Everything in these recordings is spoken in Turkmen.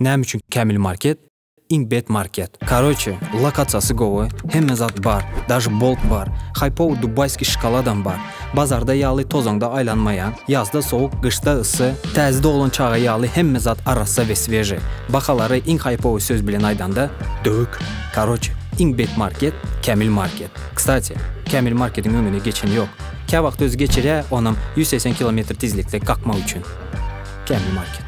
Näme üçin Kämil market? Iň bet market. Karoçe, lokasiýasy gowy, hemme zat bar, daži bolt bar, haýpowy dubaýskiý şokoladam bar. Bazarda ýaly tozaňda aýlanmaýaň, ýazda sowuk, gyşda yssy, täze doglan çaga ýaly hemme zat arassa we sweži. Bahalary iň haýpowy söz bilen aýdanda, döwük. Karoçe, iň bet market, Kämil market. Kstati, Kämil marketiň öňüne geçen ýok. Käwagt özi geçirýä, onam ýüz segsen kilometr tizlikde kakmak üçin. Kämil market.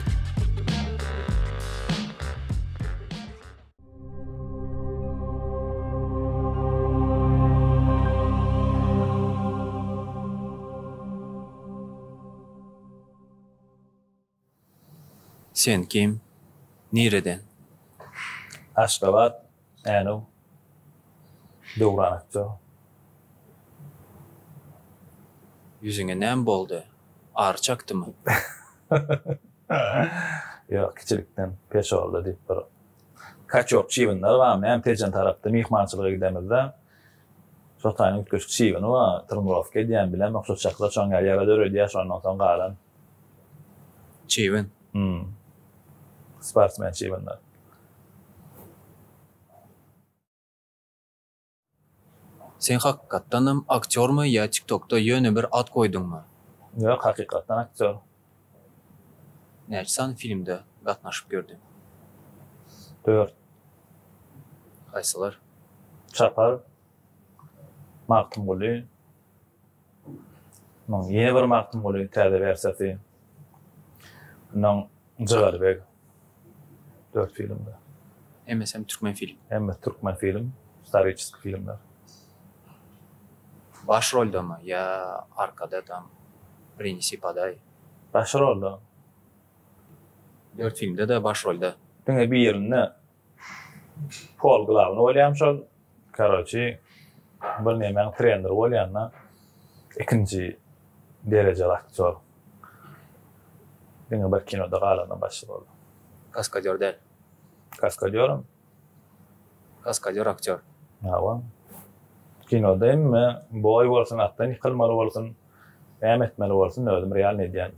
Sen kim? Nireden? Aşgabat, Änew, Döwran akja. Ýüzüňe näme boldy? Ary çakdymy? Ýok, kiçilikden peşolda diýip bir Kaçok çybynlar bar, men Tejen tarapda myhmançylyga gidemizde, şo taýyň üýtgeşik çybyny bar, trnirowka edýän, bilemok, şo çakyra çöňýär, ýara döredýär, şondan soň galan. Çybyn. Hum. Sportsmen çybynlar. Sen hakykatdanam aktýormy ýa tiktokda ýöne bir at goýduňmy? Ýok hakykatdan aktýor. Näçe sany filmde gatnaşyp ýördiň? Dört. Haýsylar? Çapar. Magtymguly. Munuň ýene bir Magtymguly täze wersiýasy. Mundan Jygaly beg dört filmde. Hemmesem Türkmenfilm. Hemmesi Türkmenfilm, istoriçeskiý filmler. Baş roldamy ýa arkada tam Prinesi podaý? Baş rolda. Dört filmde-de baş rolda. Diňe birinde. Pol glawny bolýam şol. Karoçi bir nemäň treneri bolýanda ikinji derejeli aktýor. Diňe bir kinoda galanda başy boldy. Kaskadýor däl. Kaskadýoram. Kaskadýor aktýor. Hawa. Kinoda hemme boý bolsun, atdan ýykylmaly bolsun, näme etmeli bolsun özüm realny edýän.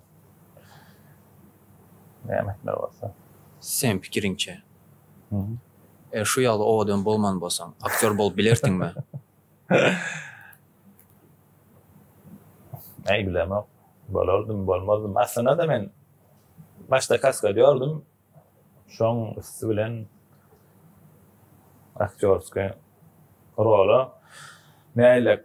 Nämetler bolsa. Seň pikiriňçe, eger şu ýaly owadan bolman bolsaň, aktýor bolup bilersiňmi? Äý, bilemok. Bolardym, bolmazdym. Aslynda-da men başda kaskady gördüm. Şoň üsti bilen aktýorskiý rola mäýillek.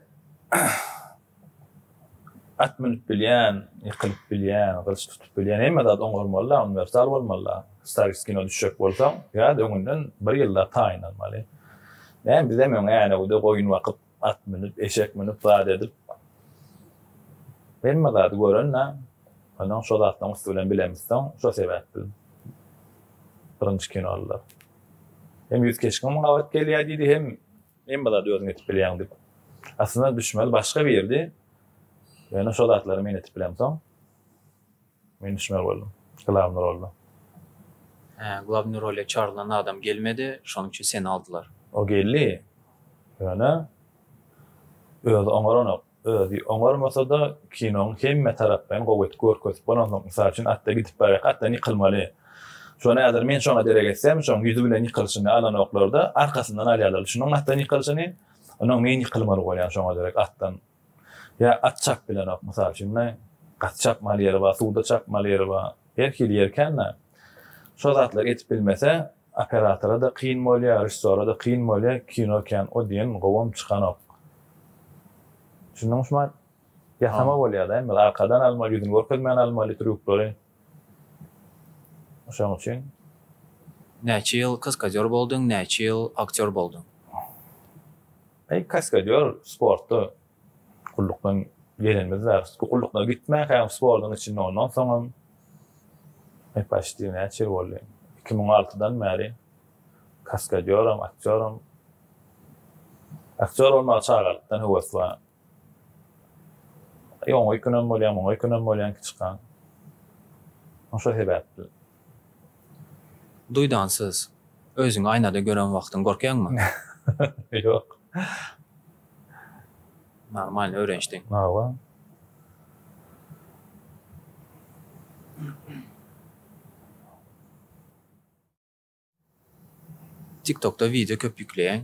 At münüp bilýän, ýykylyp bilýän, gylyç tutup bilýän hemme zat oň bolmaly-da, uniwersal bolmaly-da. Staris kino düşjek bolsaň, biraz öňünden bir ýyllap taýynlanmaly. Näme, bizem öň Änewde goýun bakyp, at münüp, eşek münüp, zat edip, hemme zady gören-dä. Onsoň şo zatlaryň üsti bilen bilemizsoň, şo sebäpli birinji kinolylar hem ýüz keşgem gabat gelýär diýdi, hem Hemme zady özüň edip bilýäň diýip. Aslynda düşmeli başga birdi. Ýöne şo zatlary men edip bilemsoň, men düşmeli boldum. Glawny rolda. Hä, glawny role çagyrylan adam gelmedi, şonuň üçin seni aldylar. O geldi. Ýöne özi oňaranok. Özi oňarmasa-da, kinoň hemme tarapdan gowy edip görkezip bolansoň, mysal üçin, atda gidip barýarka atdan ýykylmaly. Şony häzir men şoňa derek etsem, şoň ýüzi bilen ýykylyşyny alanoklar-da, arkasyndan alýarlar. Şunuň atdan ýykylyşyny, onuň men ýykylmaly bolýan şoňa derek atdan. Ýa at çap bilenok, mysal üçin, gaty çapmaly ýeri bar, suwda çapmaly ýeri bar. Her hili ýeri kän-ä. Şo zatlary edip bilmese, Operatora da kyn bolýa režissora da kyn bolýa kino kän o diýen gowam çykanok düşündiňmi şumat ýasama bolýada em biz arkadan almaly ýüzüni görkezmän almaly trýuklary şoň üçin. Näçe ýyl kaskadýor bolduň näçe ýyl aktýor bolduň. Eý kaskadýor sportda. Gullukdan gelenimiz bar. Gullukdan gitmänkäm sportuň içinde ondan soňam e paçti näçe ýyl boldy. Iki müň altydan bäri kaskadýoram, aktýoram. Aktýor bolmaga çagalykdan höwes bar. Ýoňa öýkünem bolýan, muňa öýkünem bolýan kiçikan. Şo sebäpli. Duýdansyz, özüňi aýnada gören wagtyň gorkýaňmy? Ýok. Normalny öwrenişdiň. Hawa. Tiktokda wideo köp ýükleýäň.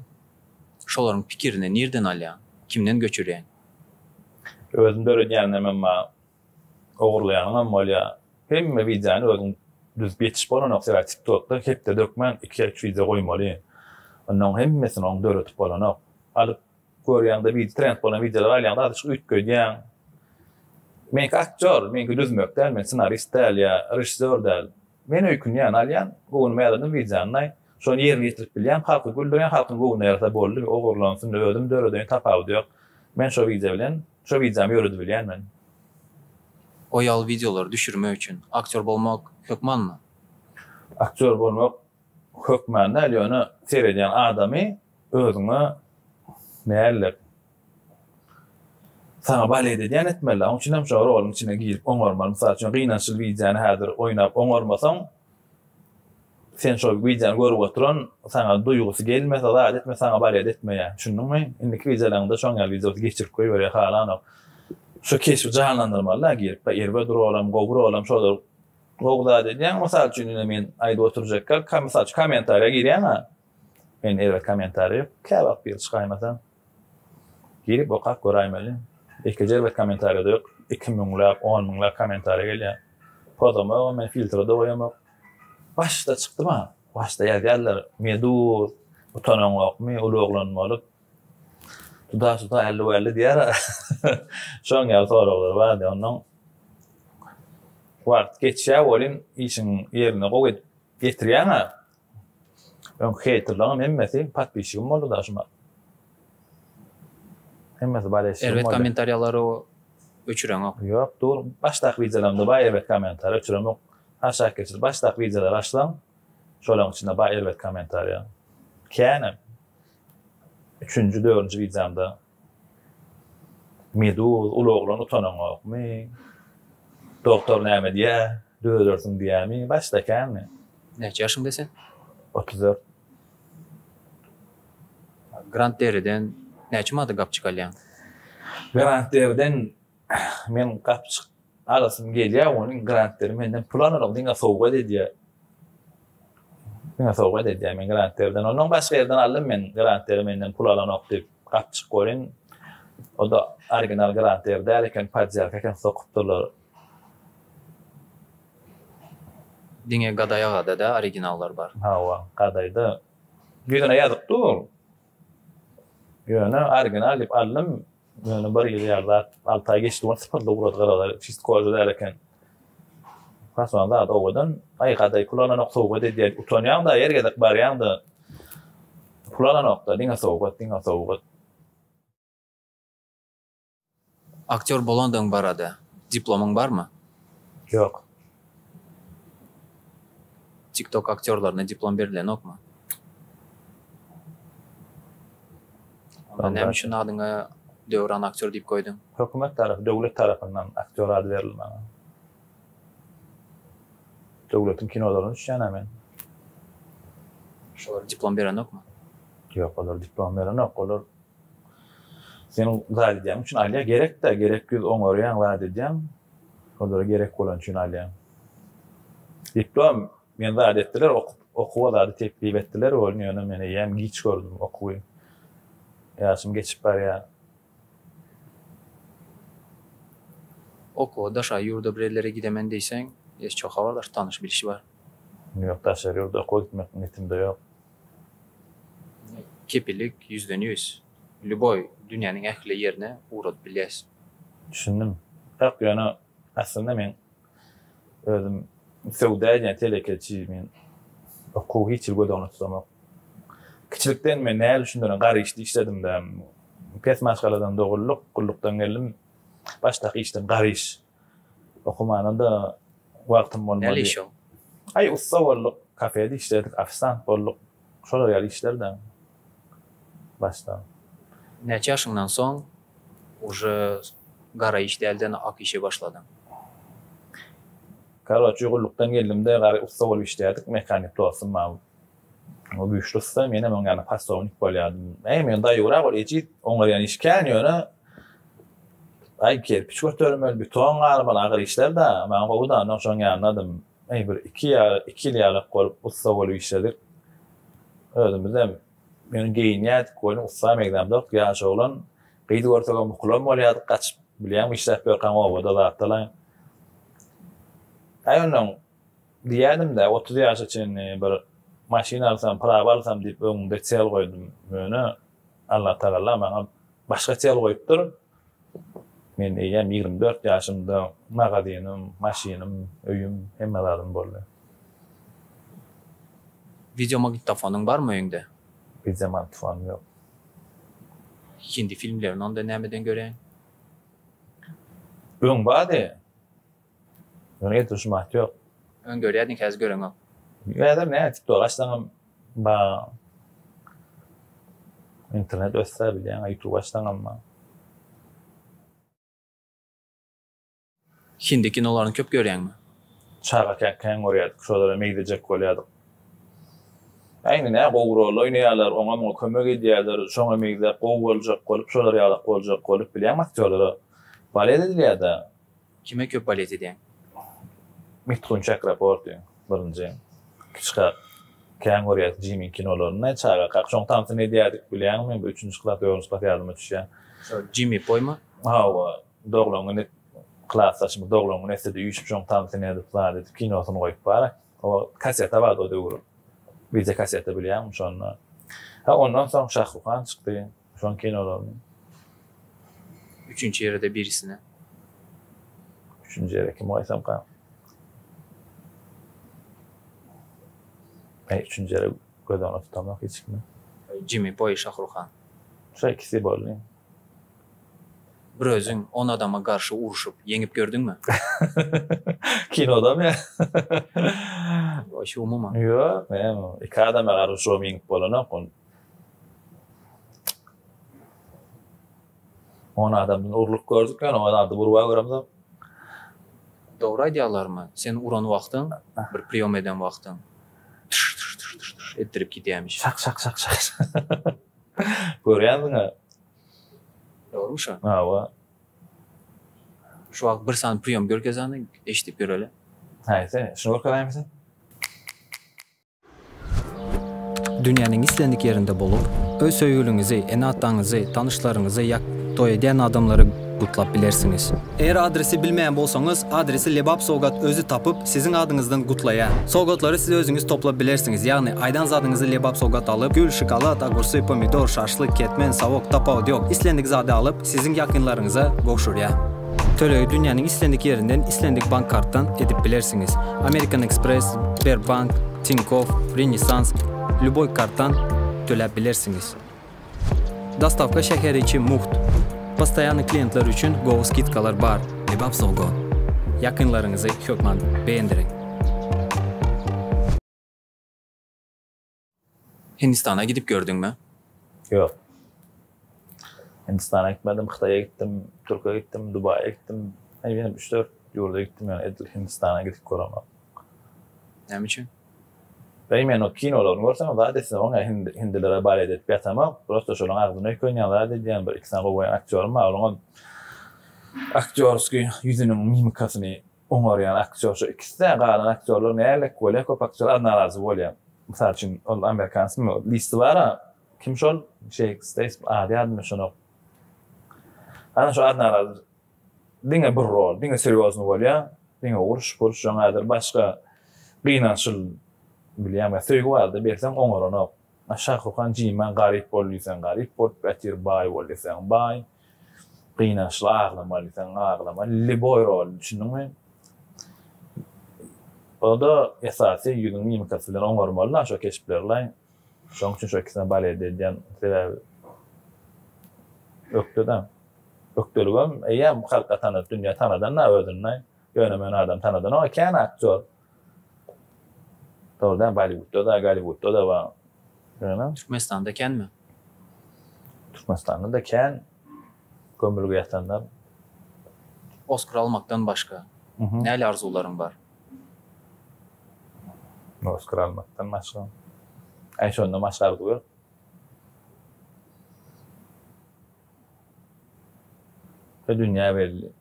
Şolaryň pikirini nirden alýaň? Kimden göçürýäň? Özüň döredýäňem emma ogurlaýanyňam bolýar. Hemme wideony özüň düzüp ýetişip bolanok sebäbi tiktokda hepde dökmän iki ýa üç wideo goýmaly. Onnoň hemmesini oň döredip bolanok. Alyp Görýäňde wid trend bolan wideolary alýaňda azajyk üýtgedýäň. Meňki aktýor, meňki düzmek däl, men ssenarist däl ýa režissýor däl. Men öýkünýän, alýan, göwnüme ýaladym wideonyny, şony ýerine ýetirip bilýän, halky güldürýän, halkyň göwnüne ýarasa boldy, ogurlansyn, özüm döredeýin, tapawudy ýok. Men şo wideo bilen, şo wideomy ýöredibilýän men. O ýaly wideolary düşürmek üçin aktýor bolmak hökmanmy? Aktýor bolmak hökman däl, ýöne seredýän adamy Özüňe mäller. Saňa balet edýän etmeli. Oň üçin hem şo roluň içine girip oňarmaly. Mysal üçin gynançly wideony häzir oýnap oňarmasaň, sen şo wideony görüp oturan, saňa duýgusy gelmese, zat etmese saňa balet etmeýär. Düşündiňmi? Indiki wideolaryňda şoň ýaly wideosy geçirip goýberýär halanok. Şo keşbi janlandyrmaly-da girip. Baý erbet rolam, gowy rolam şolar gowy zat edýäň. Mysal üçin ine men aýdyp oturjak gal, ka mysal üçin kommentariýa girýäň-ä. Men eýle kommentariýa ýok, kä wagt girip çykaýmasa, girip okap göräýmeli. Ekiji erbet kommentariýada ýok, iki müňläp, on müňläp kommentariýa gelýär. Pozamogam men filtrede goýamok. Başda çykdyma, başda ýazýarlar, Meduz, utanaňokmy, uly oglan bolup, tuda-tuda älli-wälli diýýär-ä. Şoň ýaly soraglar bardy. Onnoň wagt geçýär welin, işiň ýerine gowy edip ýetirýäň-ä. Öň heýterlaňam hemmesi podpisçigim boldy da şuma. Hemmesi bolesçigim boldy. Erbet kommentariýalary öçüreňok. Ýok dur, başdaky wideolarymda bar erbet kommentariýa öçüremok. Aşak geçir başdaky wideolary açsaň, şolaryň içinde bar erbet kommentariýa. Kän hem. Üçünji, dördünji wideomda Meduz, uly oglan utanaňokmy? Doktor näme diýýä? Dözersiň diýýämi? Başda känmi? Näçe ýaşyňda sen? Otuz dört. Grant Derriden näçe mada gapjyk alýaň? Grant Derriden Men gapjyk alasym gelýär, onuň Grantleri menden pul alanok, diňe sowgat edýär. Diňe sowgat edýär men Grantlerden. Ondan başga ýerden aldym men Grantleri menden pul alanok diýip, gapjyk görün. O-da original Grantler däl eken, podýalka eken sokupdyrlar. Diňe Gaday agada-da originallar bar. Hawa, Gadaýda. Ýüzüne ýazykdy ol. Ýöne original diýip aldym. Ýöne bir ýyl ýatlap, alty aý geçdi, ony sypyrdy, ugrady gyraza, çist koja däl eken. Haçan zat owadan, aý gadaý pul alanok, sowgat edýän, utanýaň-da, ýer gezek barýaň-da, pul alanok-da, diňe sowgat, diňe sowgat. Aktýor bolandygyň barada diplomyň barmy? Ýok. Tik tok aktýorlaryna diplom berilenokmy? Onda näme üçin adyňa Döwran aktýor diýip goýduň? Hökümet tarapy, döwlet tarapyndan aktýor ady berildi maňa. Döwletiň kinolaryna düşýän-ä men. Şolar diplom berenokmy? Ýok, olar diplom berenok. Olar seniň zat edýäň üçin alýar. Gerek-dä, gerek ýüz oňarýaň, zat edýäň. Olara gerek bolany üçin alýan. Diplom men zat etdiler okup okuwa zady teklip etdiler welin ýöne men eýýäm giç gördüm okuwy. Ýaşym geçip barýar. Okuwa daşary ýurda bir ellere gidemen diýseň ýeş çoh habardaş tanyş bilşi bar. Ýok daşary ýurda okuwa gitmek niýetimde ýok. Kepillik ýüzden ýüz. Lýuboý dünýäniň ähli ýerine ugradyp bilýäs. Düşündim. Ýok, ýöne aslynda men özüm söwda edýän telekeçi, men okuwy hiç hili göz öňünde tutamok. Kiçilikden men näl üçindirin gar işde işledim-de. Pes maşgaladan dogulduk, gullukdan geldim. Başdaky işdim gar iş. Okumana-da wagtym bolmady. Näle iş o? Aý, ussa bolduk, kafede işledik, ofisant bolduk. Şolar ýaly işler-de başda. Näçe ýaşyňdan soň uje gara iş dälden ak işe başladyň? Karoçi, gullukdan geldim-de, gara ussa bolup işledik, mehanik dostum bar. O güýçli ussa, menem oň ýaly polsownik bolýardym. Äý, men daýygyrak ol ejiz, oňarýan iş kän, ýöne Aý, kerpiç götermeli, beton garmaly, agyr işler-dä. Maňa gowy-da, onda oň şoň ýanynadym. Äý, bir iki ýa-da iki ýyl ýalyk bolup, ussa bolup işledik. Özümizem ýöne geýinýärdik welin, ussam egzamdok, ýaş oglan. Gyz görsegem bukulan bolýardyk, gaçyp, bilýäňmi, işläp ýörkäň obada zatlaň. Äý, onnoň Diýýädim-dä, otuz ýaşa çenli bir maşyn alsam, prawa alsam diýip öňümde çel goýdum. Ýöne Allatagala maňa başga çel goýupdyr. Men eýýäm ýigrimi dört ýaşymda magazynym, maşynym, öýüm, hemme zadym boldy. Wideomagnitofonyň barmy öýüňde? Wideomagnitofonym ýok. Hindi filmlerini onda nämeden göreýin? Öň bardy. Ony getirişim at ýok. Öň görýärdiň häzir göreňok. Häzir näme tiktok açsaňam bar. Internet össe bilýäň youtube açsaňam bar. Hindi kinolaryny köp görýäňmi? Çagakäk kän görýärdik şolara meýdejek bolýardyk. Ýa indi nä gowy rol oýnaýarlar oňa muňa kömek edýärler şoňa meýdäp gowy boljak bolup şolar ýalak boljak bolup bilýäňmi aktýorlara balýet edilýärda. Kime köp ballet edýäň? Miftun Çakraporti, birinji. Kiçikak, kän görýäs Jimiň kinolaryny. Çagakak şoň tansyny edýärdik, bilýäňmi? Bir üçünji klas, dördünji klas ýadyma düşýär. Şo Jimi poýmy? Hawa, doglan güni klasdaşymyz doglan güni esede üýşüp şoň tansyny edip, zat edip, kinosyny goýup bar. O kaseta bardy o döwür. Wideo kaseta bilýäňmi şonda. Ondan soň Şahruhan çykdy. Şoň kinolaryny. Üçünji ýere-de birisine. Üçünji ýere kimi goýsamka? Eý, üçünji ýere göz öňüne tutamok hiç kimi. Jimi Boý, Şahruhan. Şo ikisi boldy. Bir özüň on adama garşy urşup, ýeňip gördüňmi? Kinodamy? Şu umuman. Ýok, men iki adama garşy urşubam ýeňip bolanok. On adamdan urluk gördük ýöne o zady urba göremzok. Dogry aýdýarlarmy? Sen uran wagtyň, bir priýom eden wagtyň tyş tyş tyş tyş tyş etdirip gidýämiş. Şak şak şak şak şak. Görýänsiň-ä. Dogrymy şu? Hawa. Şu wagt bir sany priýom görkezäniň eşidip ýöreli. Haýsy? Şuny görkezaýmyşyn? Dünýäniň islendik ýerinde bolup, öz söýgüliňizi, ene-ataňyzy, tanyşlaryňyzy ýa toý edýän adamlary gutlap bilersiňiz. Eger adresi bilmeýän bolsaňyz, adresi Lebap Sowgat özi tapyp, siziň adyňyzdan gutlaýar. Sowgatlary siz özüňiz toplap bilersiňiz, ýagny aýdan zadyňyzy Lebap Sowgat alyp, gül, şokolad, ogursy, pomidor, şaşlyk, ketmen, sawuk, tapawudy ýok, islendik zady alyp, siziň ýakynlaryňyza gowşurýar. Tölegi dünýäniň islendik ýerinden islendik bank kartdan edip bilersiňiz. American Express, Sberbank, Tinkoff, Renesans, lýuboý kartdan töläp bilersiňiz. Dostawka şäher içi mugt. Postoýannyý kliýentler üçin gowy skidkalar bar. Kebap Sogo. Ýakynlaryňyzy hökman beýendiriň! Hindistana gidip gördüňmi? Ýok. Hindistana gitmedim, Hytaýa gitdim, Türkiýe gitdim, Dubaýa gitdim. Eýýäm üç-dört ýurda gitdim, ýöne edil Hindistana gidip göremok. Näme üçin? Bäý, men o kinolaryny görsemem zat etsemok, ine, hindi, hindilere balet edip ýatamok. Prosta şolaryň agzyna öýkänýän zat edýän, bir-iki sany gowaýan aktýorym bar, olaňam aktýorskiý ýüzüniň mimikasyny oňarýan aktýor şu ikisi-dä, galan aktýorlar nälelik bolýar, köp aktýorlar narazy bolýar. Mysal üçin, ol amerikansmy, listi bar-a, kim şol, Jeýk Steýsmi, ady ýadymda düşenok. Ana şo narazy diňe bir rol, diňe serýozny bolýar, diňe uruş-puruş, ýöneýdir başga gynançyl, bilýäňmi, söýgi barada berseň oňaranok. Şah Rukhan Jimma garyp bol diýseň garyp bolup ýatyr, baý bol diýseň baý. Gynançly aglamalysaň aglama liboý roly düşündiňmi? Oda esasy ýüzüň mimikasy bilen oňarmaly da şo keşplerlaý. Şoň üçin şo ikisine balede edýän sebäbi ökde-da. Ökdeligem eýýäm halka tanat dünýä tanadan da özüni. Ýöne meni adam tanadanok kän aktýor. Dogrudan Bollywoodda da, Gollywoodda da bar. Ýöne. Türkmenistanda känmi? Türkmenistanda-da kän gömülge ýatanlar. Oskar almakdan başga näle arzuwlaryň bar? Oskar almakdan başga. Aý şondan başga arzuw ýok. Şu dünýä belli.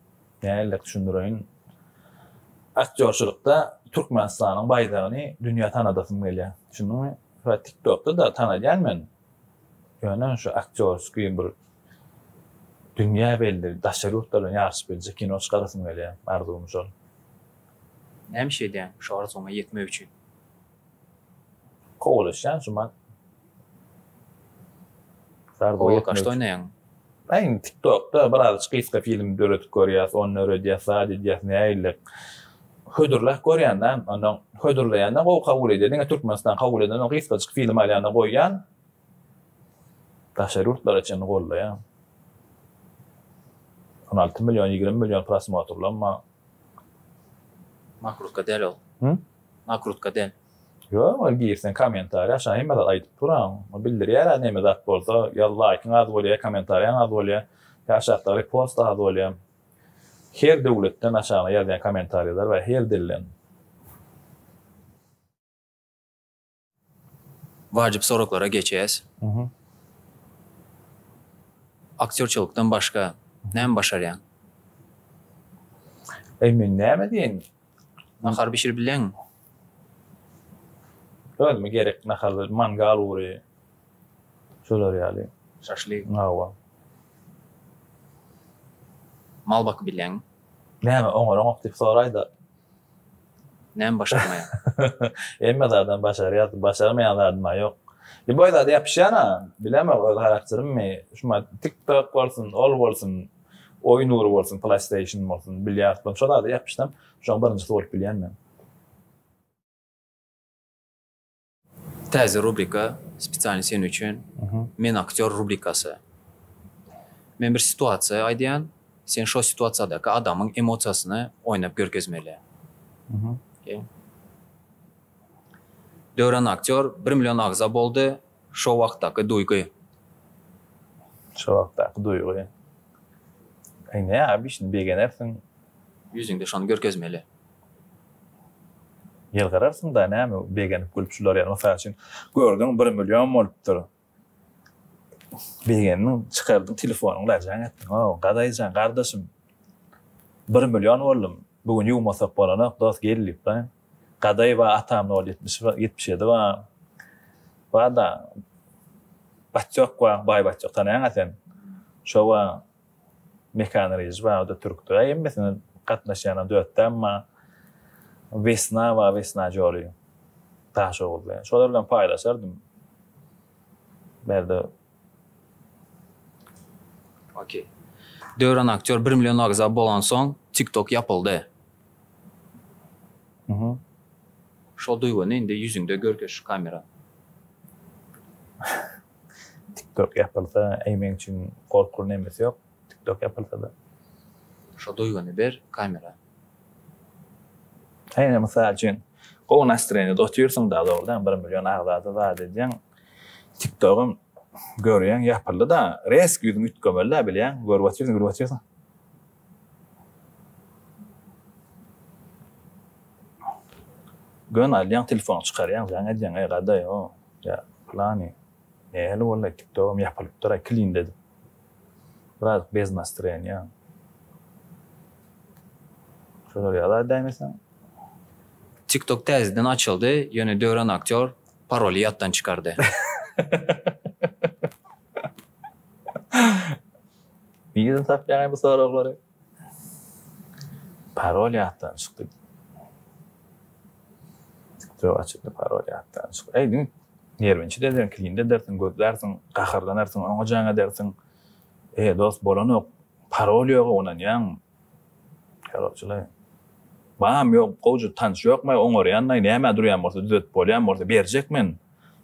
Nähillek düşündireýin. Aktýorçylykda Türkmenistanyň baýdagyny dünýä tanadasym gelýär. Düşündiňmi? Şa TikTokda-da tanalýan men. Ýöne şu aktýorskiý bir dünýä belli, daşary ýurtlar bilen ýaryşyp biljek kino çykarasym gelýär. Arzuwym şol. Näme iş edýäň şu arzuwyňa ýetmek üçin? Kowalaşýan şuman. Zarboýa kaşda oýnaýaň. Aýn tiktokda bir az gysga film döredip görýäs, ony döredýäs, zat edýäs nägillik. Hödürläp görýända, onda hödürleýände gowy kabul edýär. Diňe Türkmenistan kabul edende gysgajyk film alýan-da goýýan. Daşary ýurtlara çenli gollaýan. On alty million, ýigrimi million prosmotrlanma. Nakrutka däl ol. Hum? Nakrutka däl. Ýok ol girseň kommentariýa aşa hemme zat aýdyp duran. Ol bildirýärä neme zat bolsa ýa laýkyň az bolýa kommentariýaň az bolýa ýa aşakda repost az bolýa. Her döwletden aşagyna ýazýan kommentariýalar bar her dilden. Wajyp soraglara geçýäs. Aktýorçylykdan başga näme başarýaň? Eý men näme diýeýin? Nahar bişirip bilýäňmi? Özüme gerek naharlar, mangal ury, şular ýaly. Şaşlyk. Hawa. Mal bakyp bilýäňmi? Näme oňaranok diýip soraýda. Näme başarmaýan? Hemme zadam başarýas, başarmaýan zadym-a ýok. Lýuboý zada ýapyşýan-a, bilemok öz harakterimmi, şuma TikTok bolsun, ol bolsun, oýun ugry bolsun, PlayStation bolsun, bilýard bolsun, şo zada ýapyşsam, şoň birinjisi bolup bilýän men. Täze rubrika spesialny sen üçin. Men aktýor rubrikasy. Men bir situasiýa aýdýan, sen şo situasiýadaky adamyň emosiýasyny oýnap görkezmeli. Döwran aktýor bir million agza boldy, şo wagtdaky duýgy. Şo wagtdaky duýgy. Eý näme şindi begenersiň. Ýüzüňde şony görkezmeli. Ýylgyrarsyň-da, näme begenip gülüp şular ýaly, mysal üçin, gördüň bir million bolupdyr. Begendiň, çykardyň telefonyňy lajaň etdiň, Hawa, Gadaý jan, gardaşym, bir million boldum, bu gün ýuwmasak bolanok, dos, gel diýip, Baý, Gadaý ba atam nol ýetmiş ba ýetmiş ýedi ba bar-da, batjak ba, baý batjak, tanaýaň-a sen, şo ba, Mekan Rejep aga-da türkdür-ä hemmesine gatnaşýanam dötdi emma Wesna bar Wesna Joly Taşoguzly. Şolar bilen paýlaşardym. Berde Okey. Döwran aktýor bir million agza bolansoň TikTok ýapyldy. Mhm. Şol duýgyny indi ýüzüňde görkez şu kamera. Tiktok ýapylsa eý meň üçin gorkuly nemes ýok tiktok ýapylsada. Şo duýgyny ber kamera. Hany mysal üçin gowy nastreniýada otyrsyň da dogrydan bir million agzada zat edýäň tiktogam görýäň ýapyldy da resk ýüzüň üýtgemeli da bilýäň görüp otyrsyň gülüp otyrsyň. Gön alýaň telefony çykarýaň zaň edýäň eý gadaý o ýa plany nähili boldaý tiktogym ýapylypdyraý klinde edip biraz bez nastroýeniýa şolar ýaly däýmeseň. Tiktok täzeden açyldy, ýöne Döwran aktýor paroly ýatdan çykardy. Nireden tapýaňaý bu soraglary? Parol ýatdan çykdy. Tiktok açyldy, parol ýatdan çykdy. Eý, diňe nerwinçi edersiň, kline edersiň, gözlärsiň, gaharlanarsyň, oňa jaň edersiň. Eý, dost, bolanok. Parol ýoga ynanýaň. Parolçylaý. Bam ýok, gowja tanyş ýokmaý, oňarýanlaý, nämä durýan bolsa, düzetip bolýan bolsa, berjek men.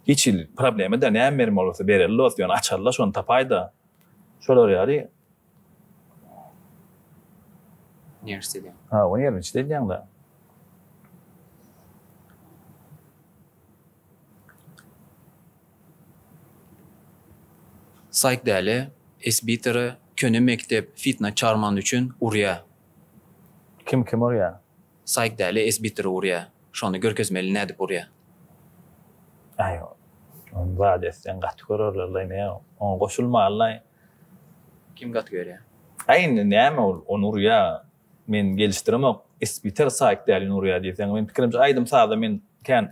Hiç hili problema däl näme bermeli bolsa bereli dost ýöne açarla şony tapaýda. Şolar ýaly. Nerwist edýän. Hawa nerwinçde edýäň da. Saýk däli, esbiteri, köne mekdep fitna çarman üçin urýa. Kim kim urýa. Saýk däli es bitir urýa. Şony görkezmeli nädip urýa. Aý ony zat etseň gaty görerlerlaý ne oňa goşulmalylaý. Kim gaty görýä. Aý indi näme ol ony urýa men gelişdiremok es biter saýk dälini urýa diýseň meniň pikirimçe aýdym saza men kän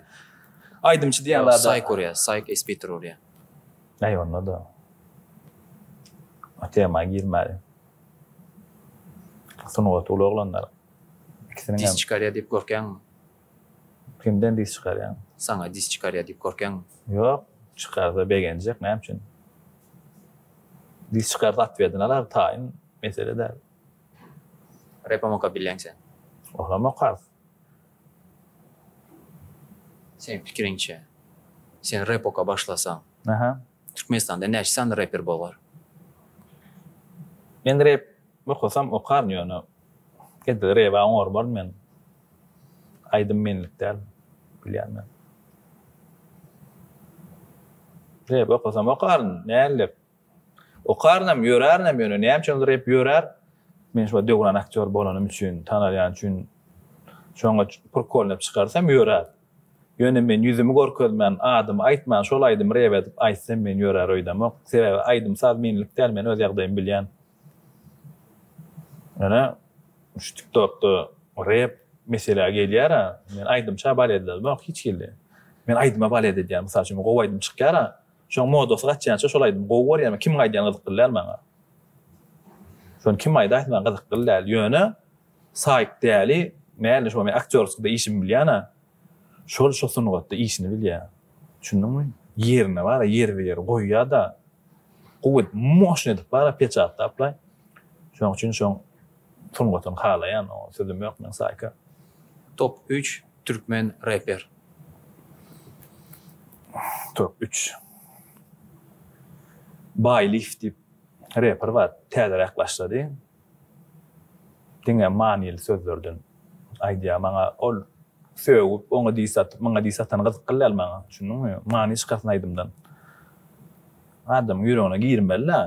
aýdymçy diýen zada. Saýk urýa saýk es bitir urýa. Aý onda-da o tema girmäliň. Sungaty uly oglanlar. Ikisiniň hem. Dis çykarýar diýip gorkýaňmy? Kimden dis çykarýaň? Saňa dis çykarýar diýip gorkýaňmy? Ýok, çykarsa begenjek, näme üçin? Dis çykarsa atwedini alar, taýyn mesele däl. Repem okap bilýäň sen? Olam okarys. Seniň pikiriňçe, sen rep oka başlasaň. Aha. Türkmenistanda näçe sany reper bolgar. Men rep okasam okaryn ýöne edil reba oňarmaryn men aýdym menlik däl bilýän men. Rep okasam okaryn nällek okarynam ýörärinem ýöne näme üçin ol rep ýörär men şuba döwran aktýor bolanym üçin tanalýan üçin şoňa purkolnap çykarsam ýörär. Ýöne men ýüzümi görkezmän, adymy aýtman şol aýdymy rep edip aýtsam meni ýörär öýdemok. Sebäbi aýdym-saz menlik däl, men öz ýagdaýymy bilýän. Ýöne şu TikTokda rep meselä gelýär-ä, men aýdymça baletlerimok hiç hili. Men aýdyma balet edýän, mysal üçin, gowy aýdym çykýar-a, şoň modasy gaçýança şol aýdymy gowy görýän we kimiň aýdýany gyzykly däl maňa. Şony kim aýdaýsa maňa gyzykly däl. Ýöne. Saýt däli mäli şo men aktýorskda işimi bilýana şol şo sungatda işini bilýä düşündiňmi ýerine bara ýerbe ýer goýýada gowy edip moşny edip bara peçatlaplaý şoň üçin şoň sungatyny halaýan oňa sözüm ýok men saýka. Top üç türkmen reper. Top üç. Baý lif diýip reper bar täzeräk başlady. Diňe manyly sözlerden aýdýar maňa ol sögüp oňa diss atyp maňa diss atany gyzykly däl maňa düşündiňmi many çykarsyn aýdymdan adamyň ýüregine girmelidä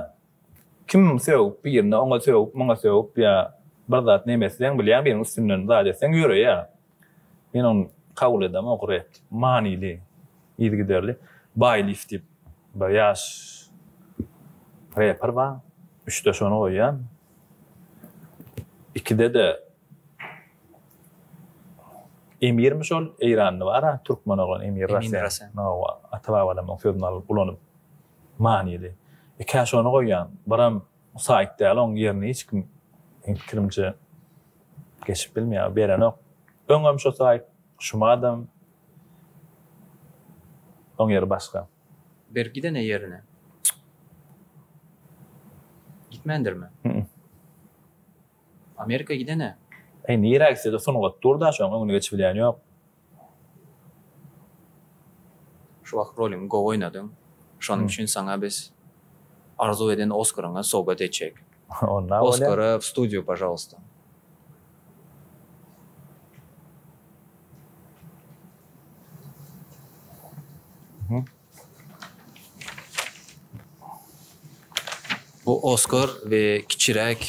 kim sögüp birine oňa sögüp muňa sögüp ýa bir zat neme etseň bilýäň biriň üstünden zat etseň ýöreýä. Men ony kabul edem ogry, manyly, yzygiderli. Baý lif diýip bir ýaş reper bar. Üçde şony goýýan. Ikide-de Emirmi şol eýranly bar-a, türkmen oglan Emir Rasen. Hawa, ata-babalarymyň sözüni alyp ulanyp manyly. Ikä şony goýýan. Biram Saýt däl oň ýerini hiç kim meň pikirimçe geçip bilmeýär berenok öňem şo saýt şumadam oň ýeri başga. Bir gidene ýerine gitmändirmi? Hü-ü. Amerika gidene. Eý nirä gitsede sungat dur da şoň öňüne geçibilýän ýok. Şu wagt rolyňy gowy oýnadyň. Şonuň üçin saňa biz arzuw eden Oskaryňa sowgat etjek. Oskara w studiýu pažalwsta. Bu Oskar we kiçiräk.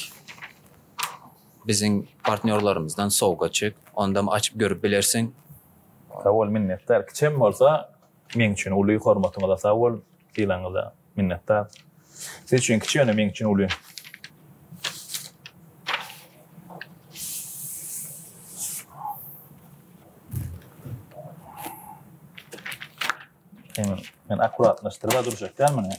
Biziň partnýorlarymyzdan sowgatçyk, ondam açyp görüp bilersiň. Sag bol, minnetdar. Kiçem bolsa, meň üçin uly, hormatyňyza sag bol, sylagyňyza minnetdar. Siz üçin kiçi, ýöne meň üçin uly. Hemen men akuratlaşdyryp-a durjak dälmi ine?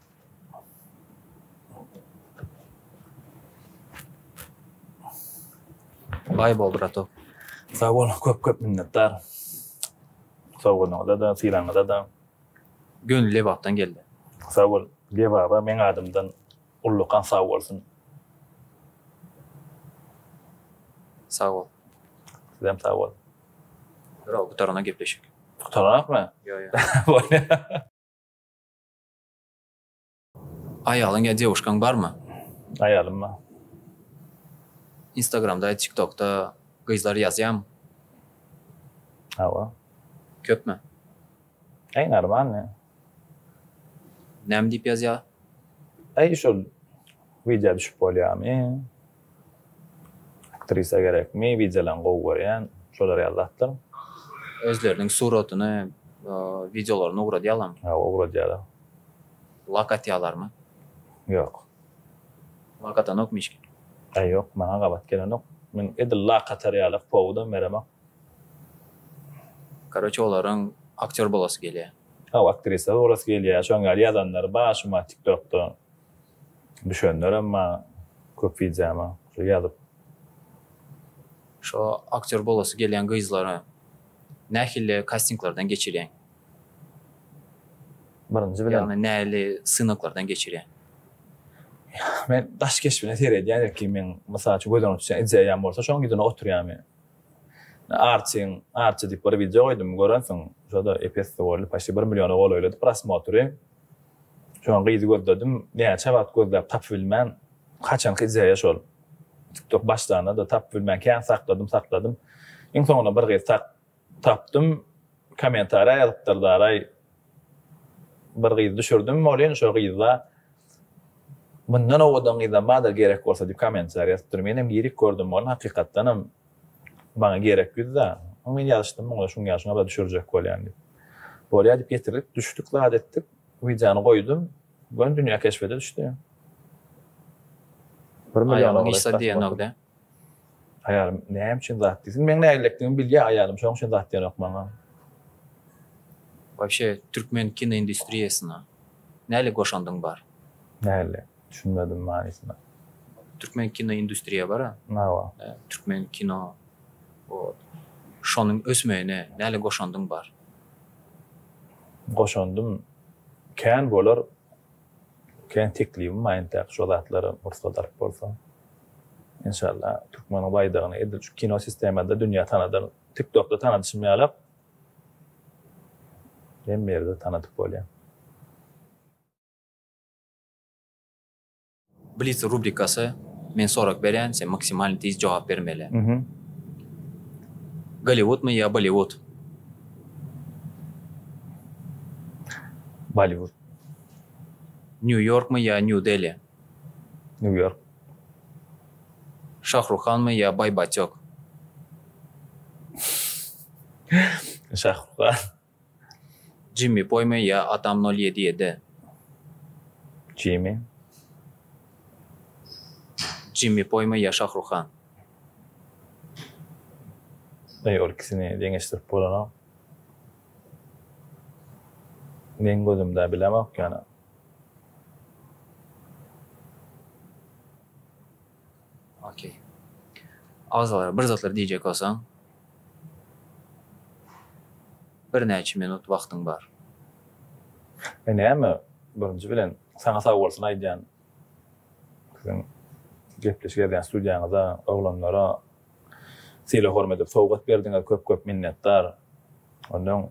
Baý bol brato. Sag bol, köp köp minnetdar. Sowgadyňyza-da, sylagyňyza-da. Gönül Lebapdan geldi. Sag bol. Lebaba meň adymdan ullakan sag bolsun. Sag bol. Sizem sag bol. Durag, gutarana gepleşik. Gutaranokmy? Ýo, ýo. Aýalyň ýa dewuşkaň barmy? Aýalym bar. Instagramda, tiktokda gyzlar ýazýamy? Hawa. Köpmi? Äý normalny. Näme diýip ýazýa? Äý şol widýa düşüp bolýamy? Aktrisa gerekmi wideolaň gowy görýän şolar ýaly zatlar. Özleriniň suratyny wideolaryna ugradýalarmy. Hawa ugradýalar. Lak atýalarmy. Ýok. Lak atanokmy hiç kim. Aý ýok maňa gabat gelenok. Men edil lak atar ýaly powudam beremok. Karoçe olaryň aktýor bolasy gelýä. Hawa aktrisa bolasy gelýä şoň ýaly ýazanlar bar şuma tiktokda. Düşenlerem bar köp wideoma şo ýazyp. Şo aktýor bolasy gelýän gyzlary nähili kastinglardan geçirýäň? Birinji bilen. Ýagny näli synaglardan geçirýäň? Men daş keşbine seredýän ilki men mysal üçin gözden uçýan ideýam bolsa şoň ýüzüne oturýan men. Arçyn arçy diýip bir wideo goýdum görensiň şoda epesli boldy paşti bir milliona golaýlady prosmotry. Soň gyzy gözledim, näçe wagt gözläp tapybilmän, haçanky ideýa şol. Tiktok başlanda-da tapybilmän kän sakladym, sakladym. Iň soňunda bir gyz tak, tapdym. Kommentariýa ýazypdyr daraý. Bir gyzy düşürdim, welin şo gyzda Mundan owadan gyzam bardyr gerek bolsa diýip kommentariýa ýazypdyr. Menem girip gördüm, ony hakykatdanam. Maňa gerek ýüz dan. Öň men ýazyşdym muňa şuň ýaşyňa bula düşürjek bolýan diýip. Bolýa diýip getirdik. Düşdük zat etdik. Wideony goýdum. Göni dünýä keşbede düşdi. Bir million Aýalyň hiç zat diýenok-dä. Aýalym näme üçin zat diýsin. Meň nägilelikdigimi bilýä aýalym. Şoň üçin zat diýenok maňa. Wabşe türkmen kinoindustriýasyna nähili goşandyň bar? Nähili? Düşünmedim manysyna. Türkmen kino industriýa bara. Hawa. Türkmen kino wot. Şonuň ösmegine näle goşandyň bar? Goşandym kän bolar. Kän teklibim bar entäk şo zatlara pursat alyp bolsa. Enşalla türkmeniň baýdagyny edil şu kino sistemada dünýä tanadan tiktokda tanadyşym ýalak hemme ýerde tanadyp bolýa. Blitz rubrikasy, Men sorag berýän, sen maksimalny tiz jogap bermeli. Golliwudmy ýa Bolliwud? Bolliwud. Nýu-Ýorkmy ýa Nýu-Deli? Nýu-Ýork. Şahruhanmy ýa Baýbatýok? Şahruhan. Jimmi poýmy ýa atam nol ýedi ýedi. Jimi. Jimmi poýmy ýa şahruhan. Eý ol ikisini deňeşdirip bolanok. Meň gözümde bilemok ýöne. Ok. Agzalara bir zatlar diýjek bolsaň, birnäçe minut wagtyň bar. Men näme, birinji bilen, saňa sag bolsun aýdýan. Siziň gepleşik edýän studiýaňyza, oglanlara sylag-hormat edip sowgat berdiňiz, köp-köp minnetdar. Ondan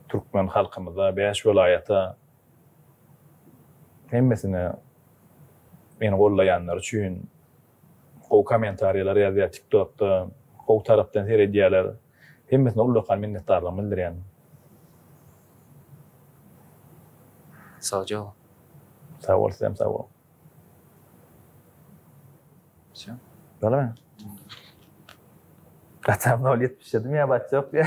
türkmen halkymyza, bäş welaýata Hemmesine meni gollaýanlar üçin gowy kommentariýalar ýazýar tiktokda gowy tarapdan seredýärler hemmesine ullakan minnetdarlygymy bildirýän. Sagjabol. Sagbol sizem sagboluň. Wsyo. Bolamy? Gaçan nol ýetmiş ýedi miýabat ýok diýä.